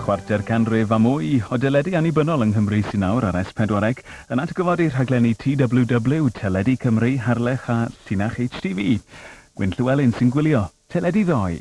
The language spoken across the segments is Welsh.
Chwarter canrif a mwy o deledu annibynnol yng Nghymru sy'n awr ar S4C yn atgyfodi rhaglenni TWW, Teledu Cymru, Harlech a Llinach HTV. Gwyn Llywelyn sy'n gwylio teledu ddoe.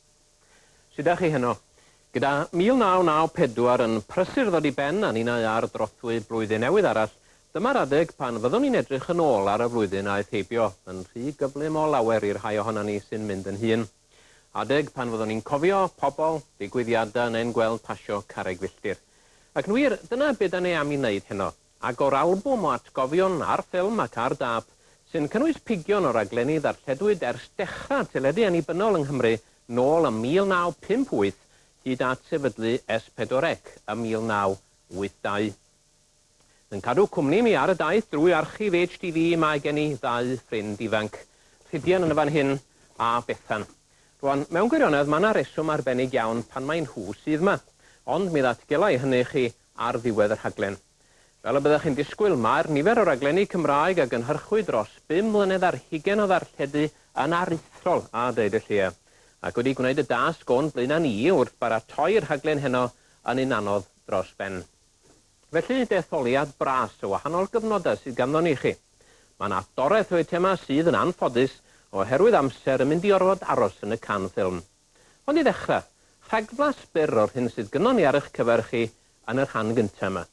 Sut 'da chi heno? Gyda 1994 yn prysur ddod i ben a ninnau ar drothwy blwyddyn newydd arall, dyma'r adeg pan fyddwn ni'n edrych yn ôl ar y flwyddyn aeth heibio, yn rhy gyflym o lawer i'r rhai ohonan ni sy'n mynd yn hŷn. Adeg pan fyddwn ni'n cofio pobl, digwyddiadau neu'n gweld pasio carreg filltir. Ac yn wir, dyna be 'da ni am 'i wneud heno. Agor albwm o atgofion ar ffilm ac ar dâp, sy'n cynnwys pigion o raglenni ddarlledwyd ers dechrau teledu annibynnol yng Nghymru nôl ym 1958 hyd at sefydlu S4C ym 1982. Yn cadw cwmni i mi ar y daith drwy archif HTV mae gen i ddau ffrind ifanc, Rhydian yn y fan hyn a Bethan. Rwan, mewn gwirionedd, mae 'na reswm arbennig iawn pan mai nhw sydd 'ma. Ond mi ddatgela i hynny i chi ar ddiwedd y rhaglen. Fel y byddech chi'n disgwyl, mae'r nifer o raglenni Cymraeg a gynhyrchwyd dros bum mlynedd a'r hugain o ddarlledu yn aruthrol a deud y lleia. Ac wedi gwneud y dasg o'n blaenau ni wrth baratoi'r rhaglen heno yn un anodd dros ben. Felly, detholiad bras o wahanol gyfnodau sydd ganddo ni i chi. Mae yna doreth o eitemau sydd, yn anffodus, oherwydd amser yn mynd i orfod aros yn y can ffilm. Ond i ddechrau, rhagflas byr o'r hyn sydd gynnon ni ar eich cyfer chi yn y rhan gyntaf yma.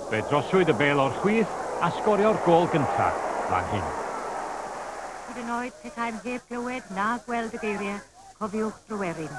Fe drosiwyd y bêl o'r chwith a sgorio'r gôl gyntaf fan hyn. Hyd yn oed petaem heb glywed na gweld y geiriau, cofiwch Tryweryn.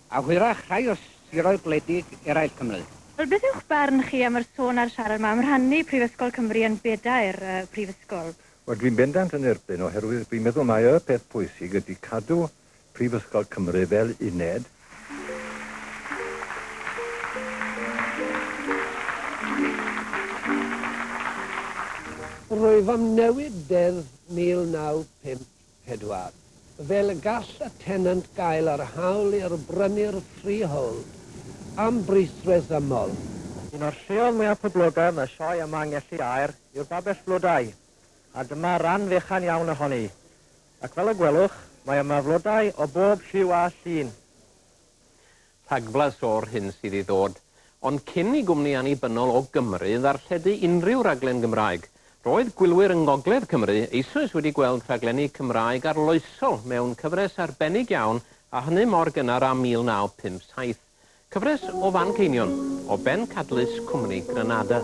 A hwyrach rhai o siroedd gwledig eraill Cymru. Wel, beth yw'ch barn chi am yr sôn a'r siarad 'ma am rhannu Prifysgol Cymru yn bedair prifysgol? Wel, dwi'n bendant yn erbyn, oherwydd dwi'n meddwl mai y peth pwysig ydy cadw Prifysgol Cymru fel uned. Rwyf am newid Deddf 1950. pedwar. Fel y gall y tenant gael yr hawl i'r brynu'r freehold am bris resymol. Un o'r lleoedd mwyaf poblogaidd yn y sioe yma yng Ngelli Aur yw'r Babell Flodau, a dyma ran fechan iawn ohoni. Ac fel y gwelwch, mae yma flodau o bob lliw a llun. rhagblas o'r hyn sydd i ddod, ond cyn i gwmni annibynnol o Gymru ddarlledu unrhyw raglen Gymraeg, roedd gwylwyr yng Ngogledd Cymru eisoes wedi gweld rhaglenni Cymraeg arloesol mewn cyfres arbennig iawn a hynny mor gynnar â 1957, cyfres o Fanceinion, o bencadlys cwmni Granada.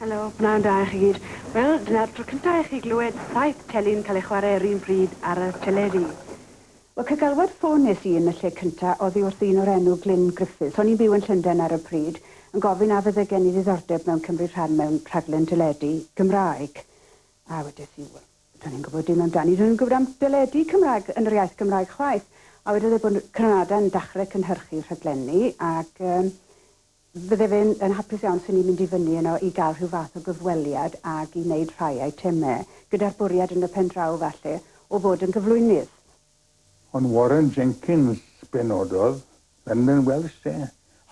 Helo, pnawn da i chi gyd. Wel, dyna'r tro cyntaf i chi glywed saith tele'n cael eu chwarae yr un pryd ar y teledu. Wel, cygalwad ffôn nes i yn y lle cyntaf oddi wrth ddyn o'r enw Glyn Griffiths, o'n i'n byw yn Llundain ar y pryd, yn gofyn a fydde gen i ddiddordeb mewn cymryd rhan mewn rhaglen deledu Gymraeg. A wedes i, wel, do'n i'n gwybod dim amdani, do'n i'm yn gwybod am deledu Cymraeg yn yr iaith Gymraeg chwaith. A wedodd e bod Cranada yn dachre cynhyrchu rhaglenni ac yy Fydde fe yn hapus iawn 'sen ni'n mynd i fyny yno i gael rhyw fath o gyfweliad ag i wneud rhai eitemau, gyda'r bwriad yn y pen draw falle o fod yn gyflwynydd. Ond Warren Jenkins be nododd London Welsh de?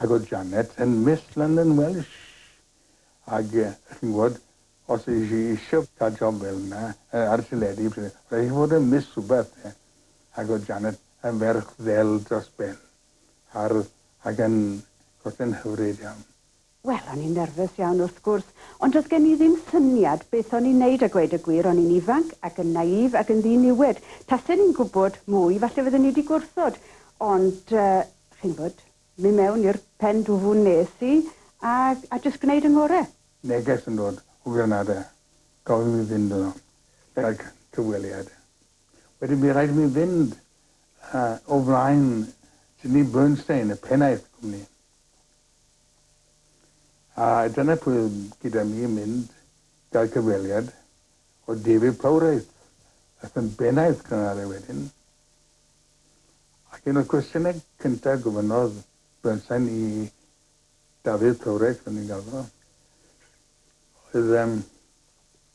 Ac oedd Janet yn Miss London Welsh? Ac chi'n gwybod, os oedd hi isio cael job fel yna, ar y teledu, roedd hi eisiau bod yn Miss rhywbeth de? Ac oedd Janet yn ferch ddel dros ben. hardd ac yn golltyn hyfryd iawn. Wel, o'n i'n nerfys iawn wrth gwrs, ond do'dd gen i ddim syniad beth o'n i'n neud a gweud y gwir, o'n i'n ifanc ac yn naïf ac yn ddiniwed. Tasen i'n gwbod mwy, falle fydden i 'di gwrthod, ond chi'n wbod, myn' mewn i'r pen dwfwn nes i a a jyst gneud 'y ngore. Neges yn dod o Granada, gofyn i mi fynd yno gydag cyfweliad. Wedyn bu raid i mi fynd o flaen Sidney Bernstein, y pennaeth y cwmni. A dyna pwy oedd gyda mi yn mynd gael cyfweliad o David Plowright, ath yn bennaeth Canare wedyn. Ac un o'r cwestiynau cyntaf gofynnodd Bernstein i David Plowright, fel ni'n gael fo, oedd um,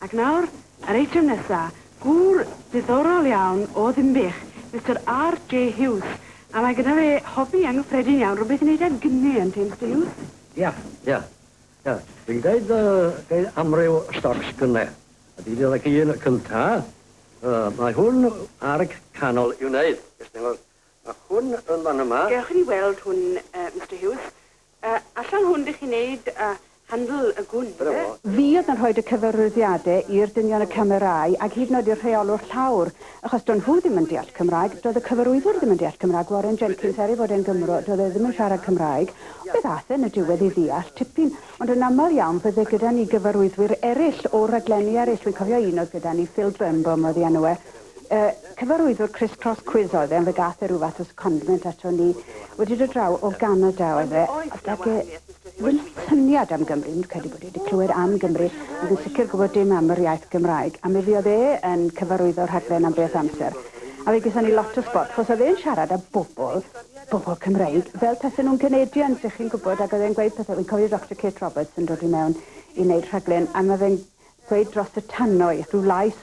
Ac nawr, yr eitem nesa, gŵr diddorol iawn o Ddinbych, Mister RJ Hughes, a mae gyda fe hobi anghyffredin iawn, rhywbeth i wneud â gni, ynddi, Mister Hughes? Ia, ia, ia, dwi'n gwneud yy amryw stocs gni, a dwi'n dod ag un cynta, yy mae hwn ar canol i'w wneud, ges ti weld, mae hwn yn fan yma. Gewch chi ni weld hwn yy Mister Hughes? A allan hwn dych chi'n neud handl y gwn ife? Fi oedd yn rhoid y cyfarwyddiade i'r dynion y camerai ag hyd yn oed i'r rheolwr llawr achos do nhw ddim yn deall cymraeg, doedd y cyfarwyddwr ddim yn deall cymraeg, Warren Jenkins er ei fod e'n gymro doedd e ddim yn siarad cymraeg, ond beth ath e yn y diwedd i ddeall tipyn, ond yn amal iawn fydde gyda ni gyfarwyddwyr eryll o raglenni eryll, fi'n cofio un oedd gyda ni Phil Birnbaum oedd ei enw e, Y cyfarwyddwr Criss Cross Quiz oedd e ond fe gath e ryw fath o secondment ato ni. Wedi dod draw o Ganada oedd e a doedd e ddim syniad am Gymru. Dwi'm yn credu bod e wedi clywed am Gymru ond yn sicr gwybod dim am yr iaith Gymraeg. A mi fuodd e yn cyfarwyddo'r rhaglen am beth amser a fe gethon ni lot o sbort achos oedd e'n siarad â bobl, bobl Cymreig, fel tasen nhw'n Canadians dych chi'n gwybod ac oedd e'n gweud pethau. Wi'n cofio Doctor Kate Roberts yn dod i mewn i wneud rhaglen a ma' fe'n ddweud dros y tannoedd, rhyw lais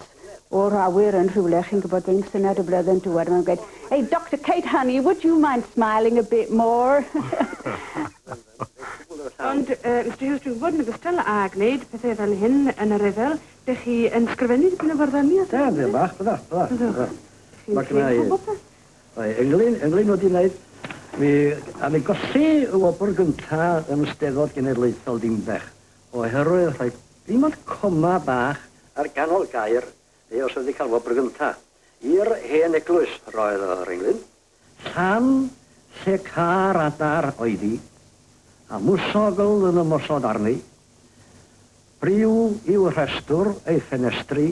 o'r awyr yn rhywle, chi'n gwybod, ein Syned y Blwyddyn Diwedd, mae'n gweud, Hey, Doctor Kate, honey, would you mind smiling a bit more? Ond, uh, Mr Hughes, dwi'n gwybod yn ogystal â gwneud pethau fel hyn yn y rhyfel, dych chi yn sgrifennu dipyn o fyrddoni os ydych chi'n bach, bydda, bydda. Bydda. Mae gna i... Mae ynglyn, ynglyn wedi wneud, mi, a mi golli y wobr gyntaf yn y Steddfod Genedlaethol Dimbech. oherwydd rhoi dim ond coma bach ar ganol gair neu os wedi cael wobr gynta, i'r hen eglwys roedd yr englyn, llan lle car adar oedd hi, a mwsogl yn ymosod arni, briw i'w rhestr, ei ffenestri,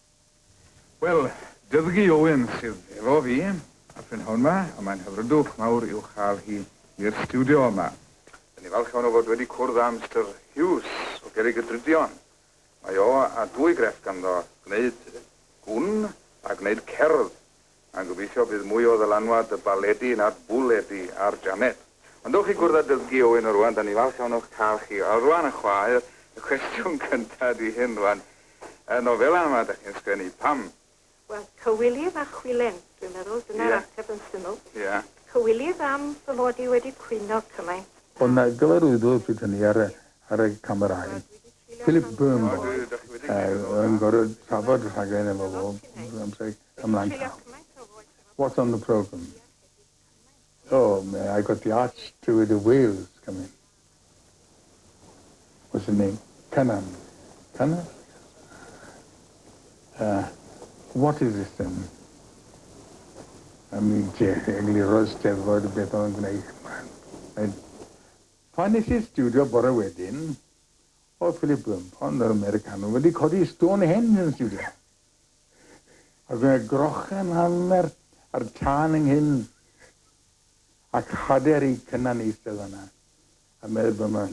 Wel, Dyddgu Owen sydd efo fi y prynhawn 'ma, a mae'n hyfrydwch mawr i'w chael hi i'r stiwdio yma. Dyn ni falch iawn o fod wedi cwrdd â Mister Hughes o Gerrig y Drudion. Mae o a dwy grefft ganddo, gwneud gwn a gwneud cerdd. Mae'n gobeithio bydd mwy o ddylanwad y baledi na'r bwledi ar Janet. Ond dowch i gwrdd â Dyfgi Owen o rwan, 'da ni'n falch iawn o'ch cael chi o rwan y chwaer, y cwestiwn cynta ydi hyn rwan, y nofela yma 'da chi'n sgwennu, pam? Wel, cywilydd a chwilen, dwi'n meddwl, dyna'r ateb yn syml. Cywilydd am fy mod i wedi cwyno cymaint. Ond na gyfarwyddwr pryd hynny ar y ar y camerâu. Philip Birnbaum. O, dwi, 'da chi wedi neud efo hwnna. Yy, yn gorod trafod y rhaglen efo fo, amser. Ymlaen llaw. What's on the programme? Oh, may I got the arch to the whales coming. What's the name? Cynan. Cynan? Uh, what is this then? Am i egluro steddfod beth o'n gwneud yma. Pan nes i'r studio bore wedyn, oedd Philip Bloom, ond yr Americanwr, wedi codi Stonehenge yn studio. A fe grochen anferth a'r tân ynghyn, ac hader eu cynan eistedd yna, a medd Bum, I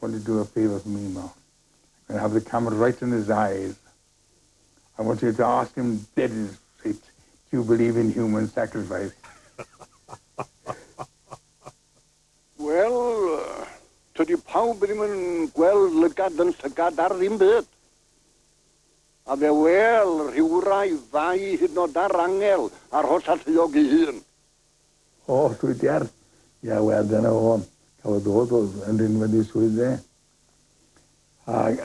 want to do a favour for Mimo. I'm going to have the camera right in his eyes. I want you to ask him dead in his face, do you believe in human sacrifice? Wel, tydi pawb ddim yn gweld lygad yn llygad ar ddim byd. A fe wel, rhywrai fai hyd nod ar angel a'r holl alluog ei hun. O, Twitter! Ia, wel, dyna fo. Cafodd o ddod yn rinwedd i swydd fe. Ac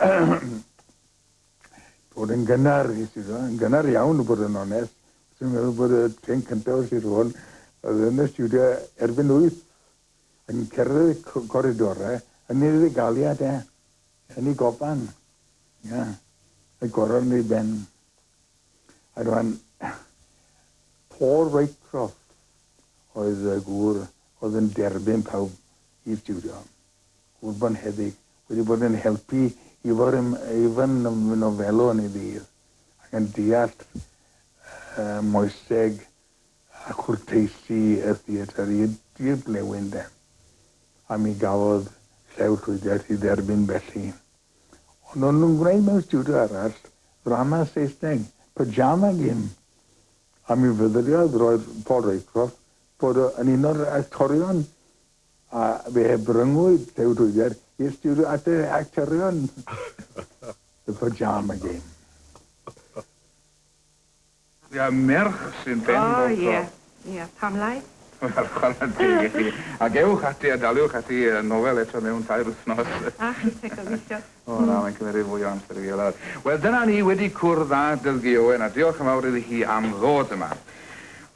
bod yn gynnar, nes i ddod, yn gynnar iawn, bod yn onest. Dwi'n meddwl bod y trên cyntaf o Sir Fôn oedd yn y studio erbyn wyth yn cerdded y coridorau yn ei fuddugaliad e. Tynnu coban. Ia. Rhoi goron yn ei ben. A rwan, Paul Roycroft oedd y gŵr oedd yn derbyn pawb i stiwdio. Gŵr bonheddig. Wedi bod yn helpu Ifor yn, Ifan yn fy nofelwr yn ei ddydd, ac yn deall y moeseg a chwrteisi y theatr i'r dirglewyr de, a mi gafodd Llew Llwyddiant ei dderbyn felly. Ond o'n nhw'n gwneud mewn stiwdio arall ddrama Saesneg, Pyjama Game, a mi fyddriodd roedd Paul Raycroft fod o yn un o'r actorion a fe bryngwyd Llew Llwyddiant i'r stiwdio at y actorion The Pyjama Game. Ia, merch sy'n ben bob tro. O ie, ie, pam lai? Wel, chwarae teg i chi. Ac ewch ati a daliwch ati y nofel eto mewn tair wythnos. A chi te, gobeithio. O na, mae'n cymeryd fwy o amser i fi olawr. Wel, dyna ni, wedi cwrdd â Dylgi Owen, a diolch yn fawr iddi hi am ddod yma.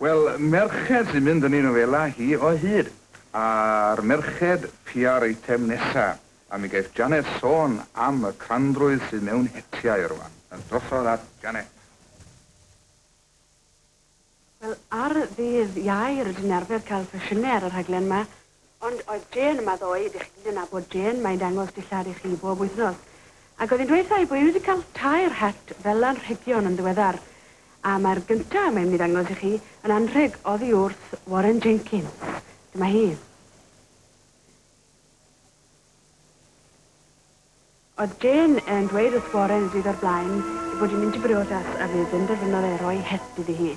Wel, merched sy'n mynd yn ei nofelau hi o hyd. A'r merched piau'r eitem nesa. A mi geiff Janet sôn am y crandrwydd sydd mewn hetiau rwan. A drosodd at Janet. Wel, ar ddydd Iau rydyn ni'n arfer cael sesiynau ar y rhaglen 'ma, ond oedd Jane yma ddoe, ydych chi gyd yn nabod Jane, mae'n dangos dillad i chi bob wythnos. Ac oedd hi'n dweud wrtha i bod hi wedi cael tair het fel anrhegion yn ddiweddar. A mae'r gyntaf, mae'n mynd i ddangos i chi, yn anrheg oddi wrth Warren Jenkins. Dyma hi. Oedd Jane yn dweud wrth Warren y dydd o'r blaen ei bod hi'n mynd i briodas a fe benderfynodd e roi het iddi hi.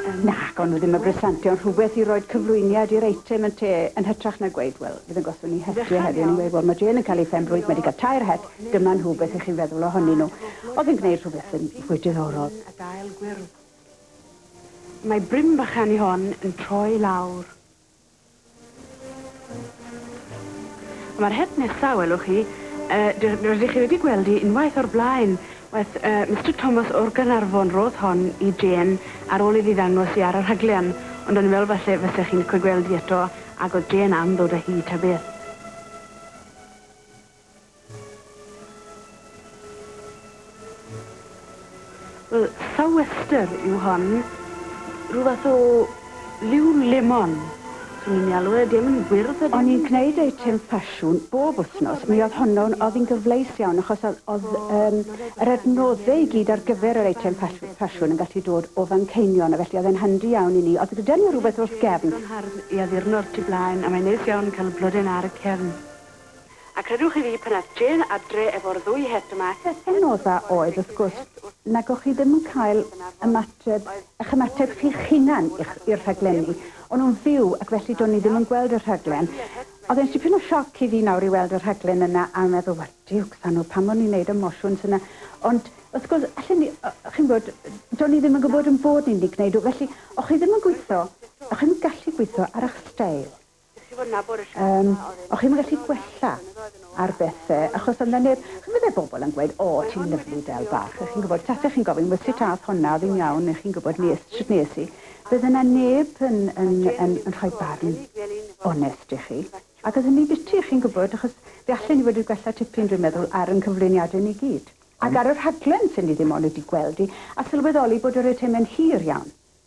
Yym. Nac, o'n nhw ddim yn bresentio yn rhywbeth i roid cyflwyniad i'r eitem ynte, yn hytrach na gweud, 'Wel, fydd yn gostwng ni het ie heddiw', o'n nhw'n gweud, 'Wel, mae Jane yn cael ei phen-blwydd, mae 'di cael tair het, dyma nhw, beth y'ch chi'n feddwl ohonyn nhw? Oedd yn gwneud rhywbeth yn fwy diddorol. A gael gwyrdd. Mae brin bychan i hon yn troi lawr. A mae'r het nesa, welwch chi, yy ry- rydych chi wedi gweld hi unwaith o'r blaen, weth, yy, Mister Thomas o'r Gaernarfon rodd hon i Jane ar ôl iddi ddangos hi ar y rhaglen, ond o'n i'n meddwl falle fyse chi'n licio gweld hi eto, ag o'dd Jane am ddod â hi ta beth. Wel, sou'wester yw hon. Rhyw fath o liw lemon, swn i'n ei alw e. 'Di e'm yn wyrdd ydyn? O'n i'n gneud eitem ffasiwn bob wthnos. Mi o'dd honno'n... O'dd 'i'n gyfleus iawn achos o'dd o'dd yym yr adnodde i gyd ar gyfer yr eitem ffas- ffasiwn yn gallu dod o Fanceinion a felly o'dd e'n handi iawn i ni. O'dd gyda ni rwbeth wrth gefn. O'dd o'n hardd i addurno'r tu blaen a mae'n neis iawn ca'l y blode 'na ar y cefn. A credwch chi fi, pan ath Jane adre efo'r ddwy het yma, het Hedd Yn odd a oedd wrth gwrs nag o'ch chi ddim yn cael ymateb, 'ych ymateb chi'ch hunan i'ch, i'r rhaglenni. O'n nhw'n fyw ac felly do'n i ddim yn gweld y rhaglen. O'dd e'n dipyn o sioc i fi nawr i weld y rhaglen yna a meddwl, wel diwcs a nhw, pam o'n i'n neud y mosiwns yna? Ond wrth gwrs, allen ni, chi'n gwbod, do'n i ddim yn gwbod 'yn bod ni'n mynd i gneud nhw. Felly, o'ch chi ddim yn gwitho, o'ch chi'm yn gallu gwitho ar 'ych steil. Yym, o'ch chi'm yn gallu gwella ar bethe, achos o'dd 'na neb... Chi'n gwbod fel bobol yn gweud, O, ti'n lyfli del bach, a chi'n gwbod, tase chi'n gofyn, wel sut a'th honna, o'dd 'i'n iawn, neu chi'n gwbod, nes, shwt nes i? Bydde 'na neb yn yn yn yn rhoi barn onest i chi, ac o'dd hynny'n biti, chi'n gwbod, achos fe allen i fod wedi gwella tipyn, dwi'n meddwl, ar 'yn cyflwyniade ni gyd. Ac ar y rhaglen, swn i ddim ond wedi gweld hi, a sylweddoli bod yr eitemau'n hir iawn.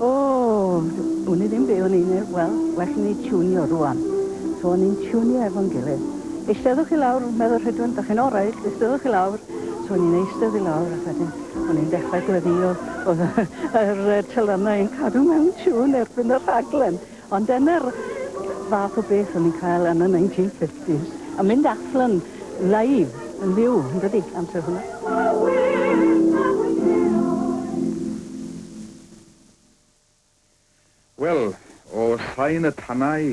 O! Wn i ddim be o'n i'n neud, wel, well i ni tiwnio rŵan. So o'n ni'n tiwnio efo'n gilydd. Eisteddwch i lawr, meddwl Rhydwen, dach chi'n oreit, eisteddwch i lawr. So o'n i'n eistedd i lawr ac wedyn o'n i'n dechrau gweddio, o'dd y yr yy telynau yn cadw mewn tiwn erbyn y rhaglen. Ond dyna'r fath o beth o'n ni'n cael yn y 1950s, a mynd allan live yn fyw, yndydi, amser hwnna. Wel, o sain y tanau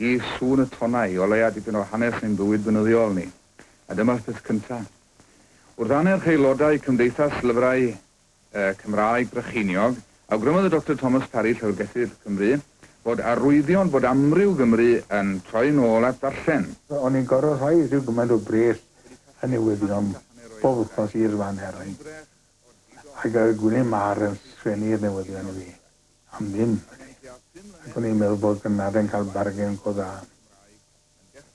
i sŵn y tonau, o leia dipyn o hanes ein bywyd beunyddiol ni. A dyma'r peth cynta. Wrth annerch aelodau Cymdeithas Lyfrau y Cymraeg Brycheiniog, awgrymodd y Doctor Thomas Parry, Llyfrgellydd Cymru, fod arwyddion bod amryw Gymry yn troi'n ôl at ddarllen. O'n i'n gorfod rhoi rhyw gymaint o bres yn newyddion bob wythnos i'r fan eraill, ac y gwne Mâr yn sgwennu'r newyddion i fi am ddim, felly, ac o'n i'n meddwl bod Gynarfon yn cael bargen go dda.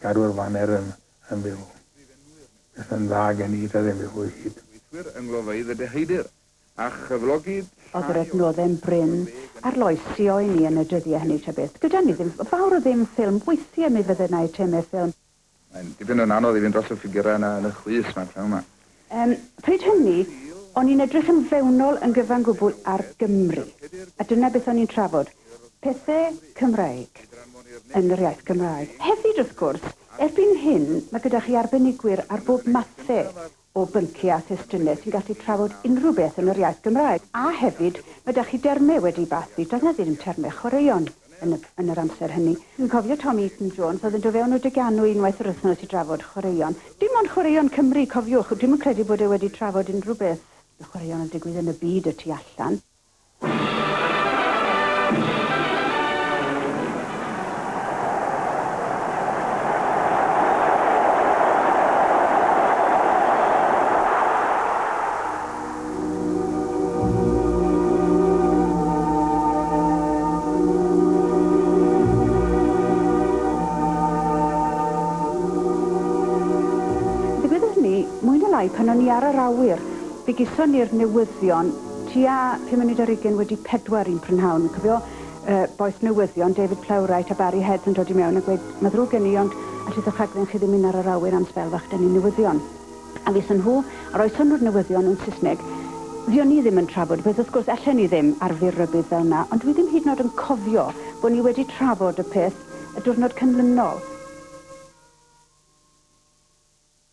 gadw'r faner yn fyw. Beth yn dda gen i, ta ddim byd fwy hud. Gweithwyr yng nglofeydd y deheudir, a chyflogid llai o Oedd yr adnoddau'n brin, arloesio i ni yn y dyddiau hynny ta beth. Gyda ni ddim fawr o ddim ffilm, weithiau mi fydde 'na eitemau ffilm. Mae'n dipyn yn anodd i fynd dros y ffigyrau yna yn y chwys 'ma pnawn 'ma. Yym, pryd hynny, o'n i'n edrych yn fewnol yn gyfan gwbl ar Gymru, a dyna beth o'n i'n trafod, pethe Cymraeg, yn yr iaith Gymraeg. Hefyd, wrth gwrs, erbyn hyn, mae gyda chi arbenigwyr ar bob mathe o byncie a thestune sy'n gallu trafod unrhyw beth yn yr iaith Gymraeg, a hefyd, mae 'da chi derme wedi 'u bathu, does 'na ddim terme chwaraeon. yn yr amser hynny. Dwi'n cofio Tom Eaton Jones oedd yn do fewn o dy ganu unwaith yr wythnos i drafod chwaraeon. Dim ond chwaraeon Cymru, cofiwch, dwi'm yn credu bod e wedi trafod unrhyw beth y chwaraeon yn digwydd yn y byd y tu allan. Ddigwyddodd hynny, mwy na lai, pan o'n i ar yr awyr. Fe geson ni'r newyddion tua pum munud ar hugain wedi pedwar un prynhawn. Fi'n cofio y bois newyddion, David Plowright a Barry Heads yn dod i mewn a gweud, 'Ma ddrwg gen i, ond allith y rhaglen chi ddim mynd ar yr awyr am sbel fach, 'da ni'n newyddion. A wnaethon nhw, a roeson nhw'r newyddion yn Saesneg. Fuon ni ddim yn trafod, wedd wrth gwrs ellen ni ddim ar fyr rybudd fel yna, ond dwi ddim hyd yn o'd yn cofio bo' ni wedi trafod y peth y diwrnod cynlynol.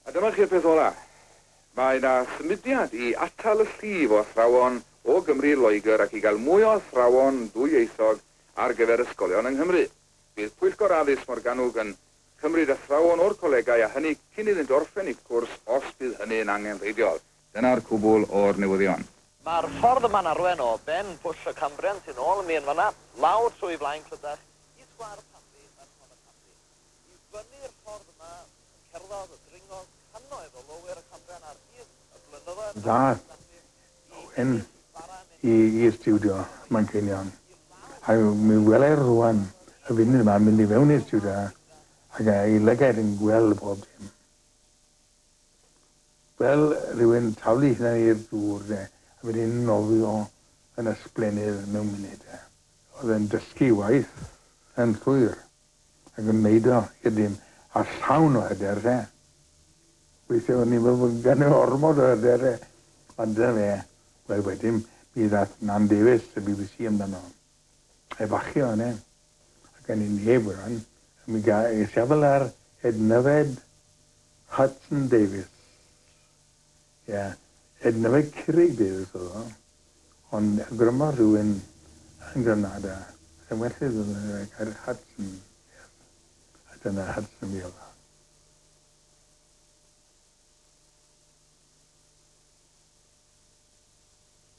A dyma chi'r peth ola. Mae 'na symudiad i atal y llif o athrawon o Gymru i Loegr ac i gael mwy o athrawon dwyieithog ar gyfer ysgolion yng Nghymru. Bydd Pwyllgor Addysg Morgannwg yn Cymryd athrawon o'r colegau a hynny cyn iddynt orffen eu cwrs os bydd hynny yn angenrheidiol. Dyna'r cwbl o'r newyddion. Mae'r ffordd yma'n arwain o ben Pwll y Cambrian tu nôl mi yn fan'na, lawr trwy Flaen Clydach i Sgwâr y Camri ar Hon y Camri. I fyny'r ffordd yma y cerddodd, y dringodd, cannoedd o lowyr y Cambrian ar hyd y blynyddoedd a'r mis felly. Yn y stiwdio, Manceinion. Ac mi welai rŵan y funud yma yn mynd i fewn i'r stiwdio ac ei lygaid yn gweld bob dim. Fel rhywun taflu hunan i'r dŵr de, a wedyn nofio yn ysblennydd mewn munud de. Oedd e'n dysgu waith yn llwyr. Ac yn neud o i'r dyn â'r llawn o hyder te. Weithie o'n i'n me'wl bod ganddo ormod o hyder e. Ond dyna fe. Wel wedyn mi ddath Nan Davies y bbc amdano. Efachu o yne. Ac gawn ni neb o ran. A mi ga- es i ar Ednyfed Hudson Davies. Ie, hyd yn oed Curaig Bears oedd o, ond awgrymodd rhywun yn Granada, sai'n well i ddefnyddio'r gair Hudson Vale, a dyna Hudson Vale oedd.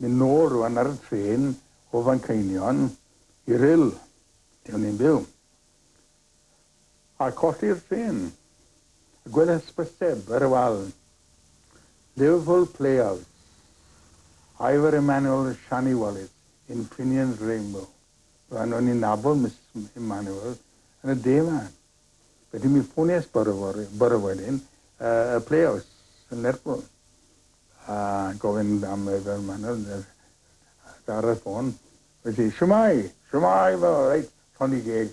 Mynd nôl rwan ar y trên o Fanceinion i Rhyl, lle o'n i'n byw. a cholli'r trên. Y gwedd hysbyseb ar y wal. Liverpool Playhouse, Ivor Emmanuel Shani Wallis in Finian's Rainbow. Roedden nhw'n i'n nabod Misus Emmanuel yn y de 'ma. Felly mi ffonies bore fory, bore wedyn, y Playhouse yn Lerpwl. A gofyn am Ivor Emmanuel ar y ffôn. Felly, siwmai, siwmai, fel, reit, llond i geg.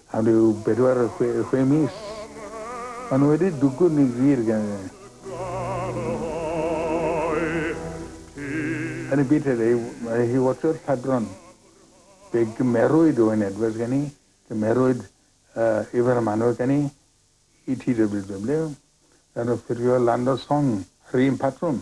Am ryw bedwar, chwe mis, maen nhw wedi dwgwn yn glir gan y Yn y byd heddiw, mae hi wastod padron. Fe gymerwyd Owen Edwards gen i, cymerwyd Ifan Manor gen i i TWW, gan offerio Land of Song ar yr un patrwm.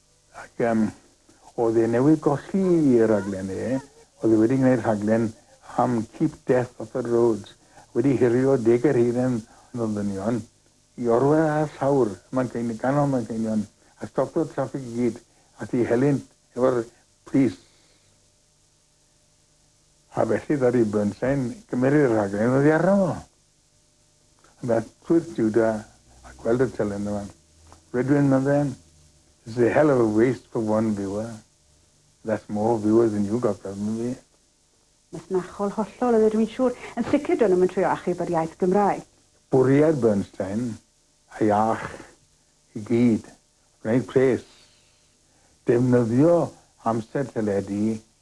Ac yym oedd e newydd golli ei rhaglen e, oedd e wedi gwneud rhaglen am Keep Death Off Our Roads, wedi hurio deg ar hugain o ddynion i orwedd ar llawr y Manceinion, ganol Manceinion, a stopio'r traffig i gyd, a thu helynt efo'r plis. A felly ddaru Bernstein gymeru'r rhaglen oddi arno fo. Yna twyrth Juda a gweld y telen yma. Rydwyn, meddai, This is a hell of a waste for one viewer. That's more viewers than you got from me. Masnachol hollol oedd e, dwi'n siŵr. Yn sicr do'n nhw'm yn trio achub yr iaith Gymraeg. Bwriad Bernstein a'i ach i gyd oedd gwneud pres, defnyddio amser teledu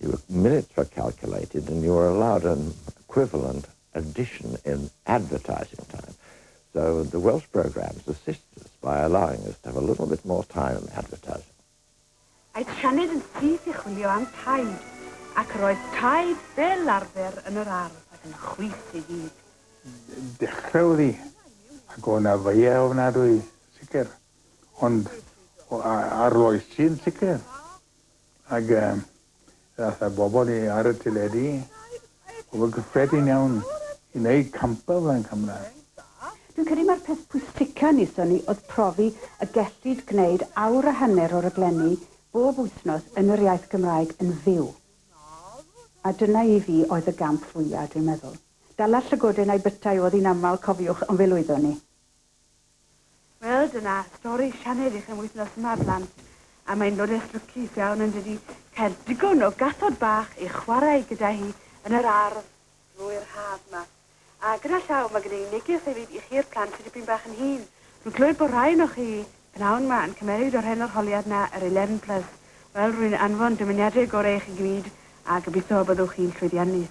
The minutes were calculated and you were allowed an equivalent addition in advertising time. So the Welsh programmes assist us by allowing us to have a little bit more time in advertising. Aeth Sianed yn syth i chwilio am taid, ac yr oedd taid fel arfer yn yr ardd ac yn chwith ei fyd. Dechrau oddi, ac o na feiau ofnadwy, sicr, ond arloesi yn sicr. Ac ddaeth y bobl i ar y teledu, pobl gyffredin iawn, i wneud campau fel yn Cymraeg. Dwi'n credu mai'r peth pwysica wnaethon ni oedd profi y gellid gwneud awr a hanner o raglenni bob wythnos yn yr iaith Gymraeg yn fyw. A dyna i fi oedd y gamp fwya, dwi'n meddwl. Dala llygoden a'i bytai oedd hi'n aml, cofiwch, ond fe lwyddon ni. Wel, dyna stori Sianed i chi am wythnos yma, blant. A mae'n lodes lwcus iawn yn dydi, cael digon o gathod bach i chwarae gyda hi yn yr ardd drwy'r haf yma. A gyda llaw, mae gen i neges hefyd i chi'r plant sydd dipyn bach yn hŷn. Rwy'n clywed bod rhai ohonoch chi, pnawn yma, yn cymeryd o'r hen arholiad yna, yr Eleven Plus. Wel, rwy'n anfon dymuniadau gorau i chi gyd, a gobeithio y byddwch chi'n llwyddiannus.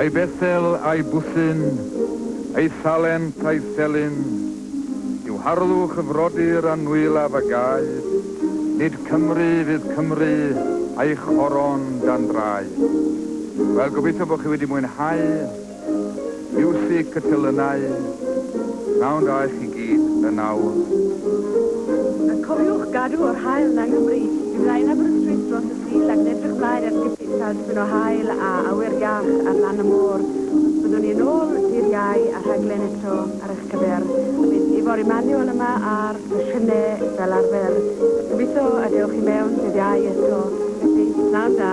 Ai Bethel, ai Bwllyn, ai Salent, ai Felin, yw harlwch y frodyr a nwyllaf a gaed, nid Cymru fydd Cymru a'i choron dan draed. Wel, gobeithio bod chi wedi mwynhau Miwsig y Telynau, pnawn da i chi gyd yn awr. A cofiwch gadw yr haul 'na yng Nghymru, i flaen Aberystwyth dros y Sul ac yn edrych mlaen at gipis a ysbryn o haul a awyr iach ar lan y môr. Byddwn ni yn ôl dydd Iau a rhaglen eto ar eich cyfer. Bydd Ifor Emmanuel yma a'r sesiynau fel arfer. Gobeithio y dewch i mewn dydd Iau eto. Felly, pnawn da.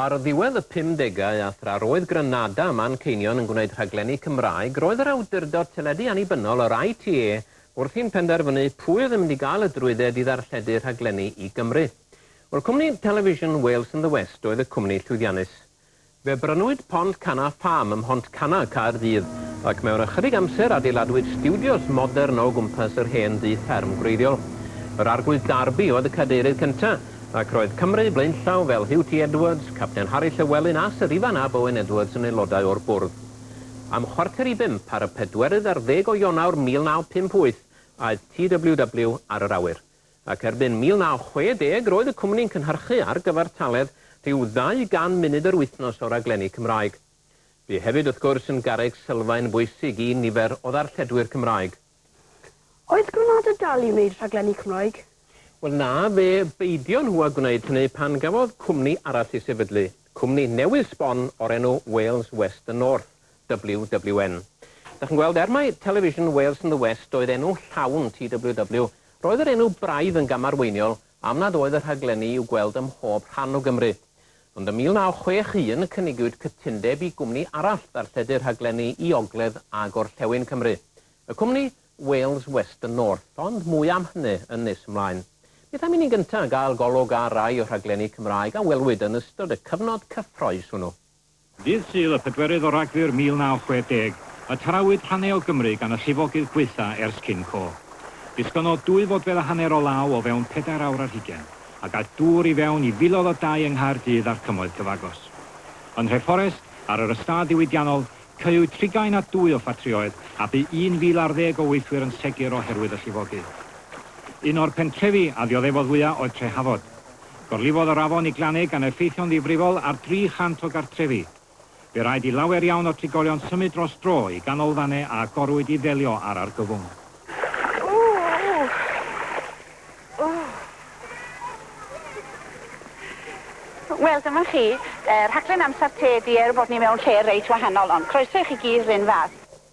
Ar ddiwedd y pumdegau a thra roedd Granada a Manceinion yn gwneud rhaglenni Cymraeg, roedd yr awdurdod teledu annibynnol, yr ITV, wrthi'n penderfynu pwy oedd yn mynd i gael y drwydded i ddarlledu rhaglenni i Gymru. Wel, cwmni Television Wales and the West oedd y cwmni llwyddiannus. Fe brynwyd Pont Canna Farm ym Mhont Canna, Caerdydd, ac mewn ychydig amser adeiladwyd stiwdios modern o gwmpas yr hen dŷ fferm gwreiddiol. Yr Arglwydd Darby oedd y Cadeirydd cyntaf, ac roedd Cymru blaenllaw fel Hugh T Edwards, Capten Harri Llewelyn a Syr Ifan ab Owen Edwards yn aelodau o'r Bwrdd. Am chwarter i bump ar y pedwerydd ar ddeg o Ionawr 1958 aeth TWW ar yr awyr. ac erbyn 1960 roedd y cwmni'n cynhyrchu ar gyfartaledd rhyw 200 munud yr wythnos o raglenni Cymraeg. Bu hefyd, wrth gwrs, yn garreg sylfaen bwysig i nifer o ddarlledwyr Cymraeg. Oedd Granado'n dal i wneud rhaglenni Cymraeg? Wel na, fe beidio nhw â gwneud hynny pan gafodd cwmni arall ei sefydlu, cwmni newydd sbon o'r enw Wales West and North. WWN. Dach chi'n gweld, er mai Television Wales and the West oedd enw llawn TWW, roedd yr enw braidd yn gamarweiniol am nad oedd y rhaglenni i'w gweld ym mhob rhan o Gymru. Ond ym 1961 cynigiwyd cytundeb i gwmni arall ddarlledu'r rhaglenni i ogledd a gorllewin Cymru, y cwmni Wales West and North, ond mwy am hynny yn nes ymlaen. Beth am i ni'n gyntaf gael golwg ar rai o'r rhaglenni Cymraeg a welwyd yn ystod y cyfnod cyffrous hwnnw? Ddydd Sul, y pedwerydd o Ragfyr 1960, y tarawyd hane o Gymru gan y llifogydd gwaetha ers cyn co. Disgynnodd dwy fodfedd a haner o law o fewn pedair awr ar hugen, a gaeth dŵr i fewn i filoedd o dai yng Nghaerdydd a'r cymoedd cyfagos. Yn Nhreforest, ar yr ystâd ddiwydiannol, caew trigain a dwy o ffatrïoedd, a bu 1000 ar ddeg o weithwyr yn segur oherwydd y llifogydd. Un o'r pentrefi a ddioddefodd fwya oedd Trehafod. Gorlifodd yr afon i Glanneg gan effeithio'n ddifrifol ar 300 o gartrefi. Fe raid i lawer iawn o trigolion symud dros dro i ganolfannau a agorwyd i ddelio â'r argyfwng. Wel, dyma chi, rhaglen Amser Te ydi e, er bod ni mewn lle reit wahanol, ond croeso i chi gyd 'run fath.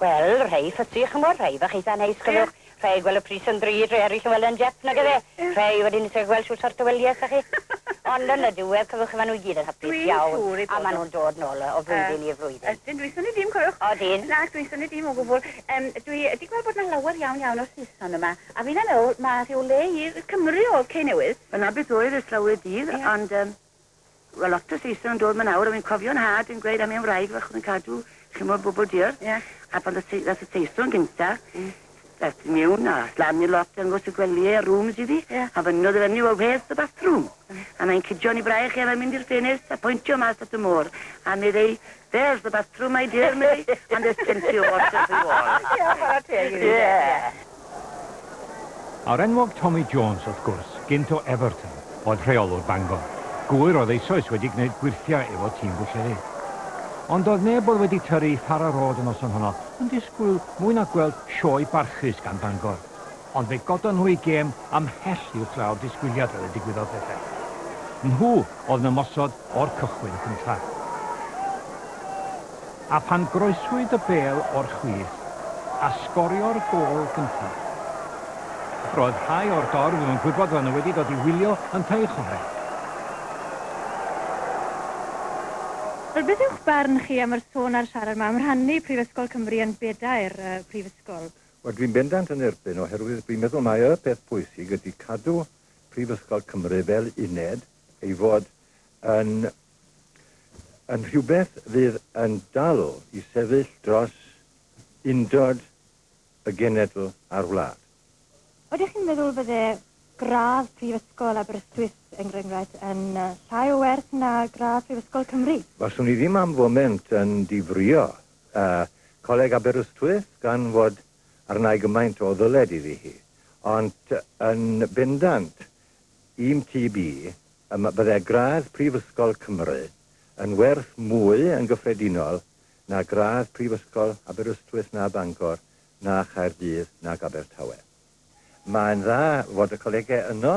Wel, rhei ffysi, ch'mod, rhei fach eitha neis, cofiwch, rhei gweld y pris yn ddrud, rhei eraill yn weld e'n dep, nag yfe? Rhei wedyn isie gweld shwt sort o wylies 'da chi. Ond yn y diwedd, cofiwch chi, ma' nw i gyd yn hapus iawn. Dwi'n siŵr eu bod nw. A ma' nw'n dod nôl o flwyddyn i flwyddyn. Ydyn, dwi'n synnu dim, cofiwch. Odyn. Nac, dwi'n synnu dim o gwbwl. Yym, dwi 'di gweld bod 'na lawer iawn iawn o Saeson yma, a finna'n meddwl ma' rhyw le i Cymru o'dd Cei Newydd. Dyna beth oedd ers lawer o dydd, ond yym. Wel lot o Saeson yn dod ma nawr a fi'n cofio nhad yn gweud am un wraig fach oedd yn cadw chimo bobl diarth yeah. a pan ddath y Saeson gynta mm. ddath i miwn a slamio lot yn gwrs y gwelyau a rooms iddi yeah. a fynnodd y fyny well where's the bathroom mm. a mae'n cydio ni braich ef a mynd i'r ffenest a pwyntio mas at y môr a meddai There's the bus through my dear me and there's plenty of water for you all. Ie, chwarae teg i fi. Ie. A'r enwog Tommy Jones, wrth gwrs, gynt o Everton, oedd rheolwr Bangor. Gŵyr oedd eisoes wedi gwneud gwyrthiau efo tîm Bwllheli. Ond doedd neb oedd wedi tyrru i Fara Road y noson honno yn disgwyl mwy na gweld sioe barchus gan Bangor. Ond fe godon nhw eu gêm ymhell uwchlaw'r disgwyliad fel y digwyddodd pethau. Nhw oedd yn ymosod o'r cychwyn cyntaf. A phan groeswyd y bêl o'r chwith a sgorio'r gôl gyntaf, roedd rhai o'r dorf yn gwybod fod nhw wedi dod i wylio yntau i chwarae. Wel, beth yw'ch barn chi am yr sôn a'r siarad 'ma am rhannu Prifysgol Cymru yn bedair prifysgol? Wel, dwi'n bendant yn erbyn, oherwydd dwi'n meddwl mai y peth pwysig ydy cadw Prifysgol Cymru fel uned, ei fod yn yn rhywbeth fydd yn dal i sefyll dros undod y genedl a'r wlad. Ydych chi'n meddwl fydde gradd Prifysgol Aberystwyth, er enghraifft, yn llai o werth na gradd Prifysgol Cymru? Faswn i ddim am foment yn difrïo Y Coleg Aberystwyth gan fod arna'i gymaint o ddyled iddi hi, ond yn bendant i'm TB ym bydde gradd Prifysgol Cymru yn werth mwy yn gyffredinol na gradd Prifysgol Aberystwyth na Bangor na Chaerdydd nag Abertawe. Mae'n dda fod y colegau yno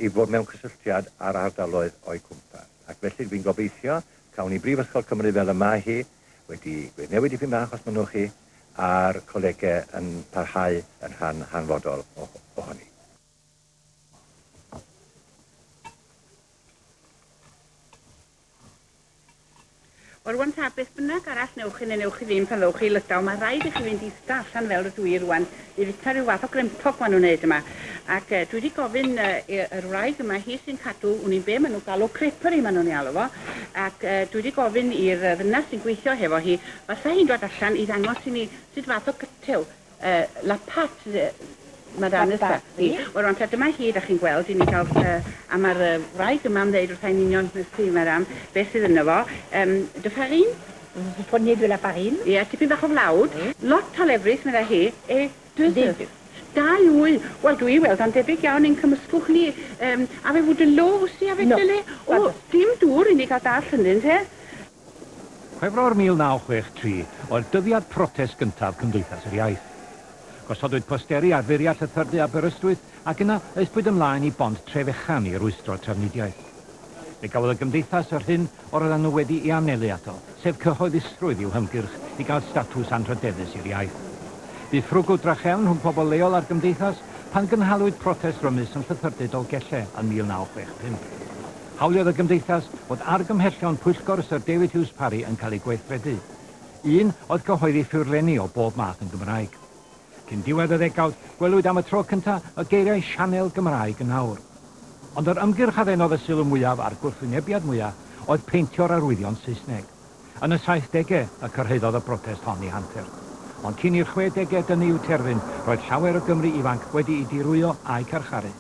i fod mewn cysylltiad â'r ardaloedd o'u cwmpas, ac felly dwi'n gobeithio cawn ni Brifysgol Cymru fel y mae hi wedi wedi newid dipyn bach os mynnwch chi, a'r colegau yn parhau yn rhan hanfodol ohoni. Wel, rwan ta beth bynnag arall newch chi neu newch chi ddim pan ddowch chi i Lydaw, mae rhaid i chi fynd ista allan fel rydw i rwan i fita rhyw fath o grempog ma nhw'n wneud yma. Ac dwi wedi gofyn i yr wraig yma, hi sy'n cadw wn i'n be ma nhw'n galw creperie ma nhw'n ei alw fo, ac dwi wedi gofyn i'r ddynas sy'n gweithio hefo hi, fasa hi'n dod allan i ddangos i ni sut fath o gytew Uh, la pat, uh, mae'r anus da. Di. Wel, rwan, ta dyma hi, da chi'n gweld, i ni gael... Uh, a mae'r uh, wraig yma yn dweud wrtha'n union nes ti, mae'r am, beth sydd yno fo. Um, dy farin? Vous prenez de la farine? Ie, yeah, tipyn bach o flawd. Mm. Lot o lefrith, meddai hi. E, dwysys. Dau wy. Wel, dwi i weld o'n debyg iawn i'n cymysgwch ni. Um, a fe fwyd yn lo, wsi, a fe no. dyle? O, dim dŵr i ni gael dall hynny, te. Chwefror 1963 oedd dyddiad protest gyntaf Cymdeithas yr Iaith. Gosodwyd posteri ar furiau llythyrdy Aberystwyth ac yna aethpwyd ymlaen i bont Trefechan i rwystro trafnidiaeth. Fe gafodd y Gymdeithas yr hyn yr oeddan nhw wedi'i anelu ato, sef cyhoeddusrwydd i'w hymgyrch i gael statws anrhydeddus i'r iaith. Bu ffrwgl drachefn rhwng pobl leol a'r Gymdeithas pan gynhalwyd protest rymus yn Llythyrdy Dolgellau yn 1965. Hawliodd y Gymdeithas fod argymhellion Pwyllgor Syr David Hughes Parry yn cael eu gweithredu. Un oedd cyhoeddi ffurflenni o bob math yn Gymraeg. Cyn diwedd y ddegawd, gwelwyd am y tro cyntaf y geiriau 'sianel Gymraeg' yn awr. Ond yr ymgyrch a ddenodd y sylw mwyaf a'r gwrthwynebiad mwyaf oedd peintio'r arwyddion Saesneg. Yn y saithdegau y cyrhaeddodd y brotest hon i Hantur. Ond cyn i'r chwedegau dynnu i'w terfyn, roedd llawer o Gymry ifanc wedi'u dirwyo a'u carcharu.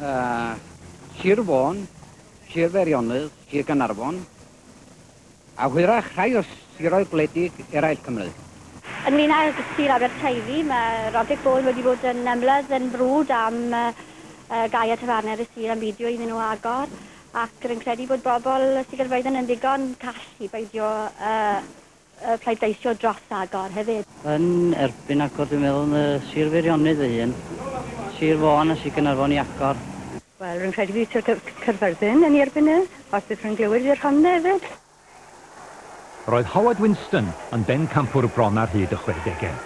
A, Sir Fôn, Sir Feirionydd, Sir Gaernarfon, a hwyrach rhai o siroedd gwledig eraill Cymru. Ynglŷn â Sir Aberteifi, mae Roderick Ball wedi bod yn ymlydd yn frwd am gau y tafarnau yn y sir am beidio iddyn nhw agor, ac rwy'n credu bod bobl Sir Gaerfyrddin yn ddigon call i beidio â y pleidleisio dros agor hefyd. Yn erbyn agor dwi'n meddwl yn y Sir Feirionnydd fy hun, Sir Fôn a Sir Gaernarfon i agor. Wel rwy'n credu bydd Sir Caerfyrddin yn ei erbyn e, os bydd rhywun glywir i'r Rhondda hefyd. Roedd Howard Winston yn bencampwr bron ar hyd y chwedegau.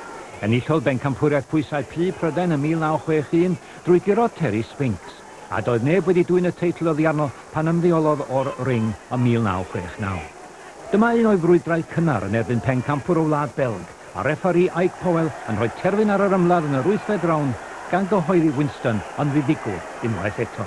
Enillodd bencampwriaeth pwysau Plu Prydain ym 1961 drwy guro Terry Spinks. a doedd neb wedi dwyn y teitl oddi arno pan ymddeolodd o'r ring ym 1969. Dyma un o'i frwydrau cynnar yn erbyn pencampwr o wlad Belg, a refferi Ike Powell yn rhoi terfyn ar yr ymladd yn yr wythfed rownd gan gyhoeddi Winston yn ddiddigwr unwaith eto.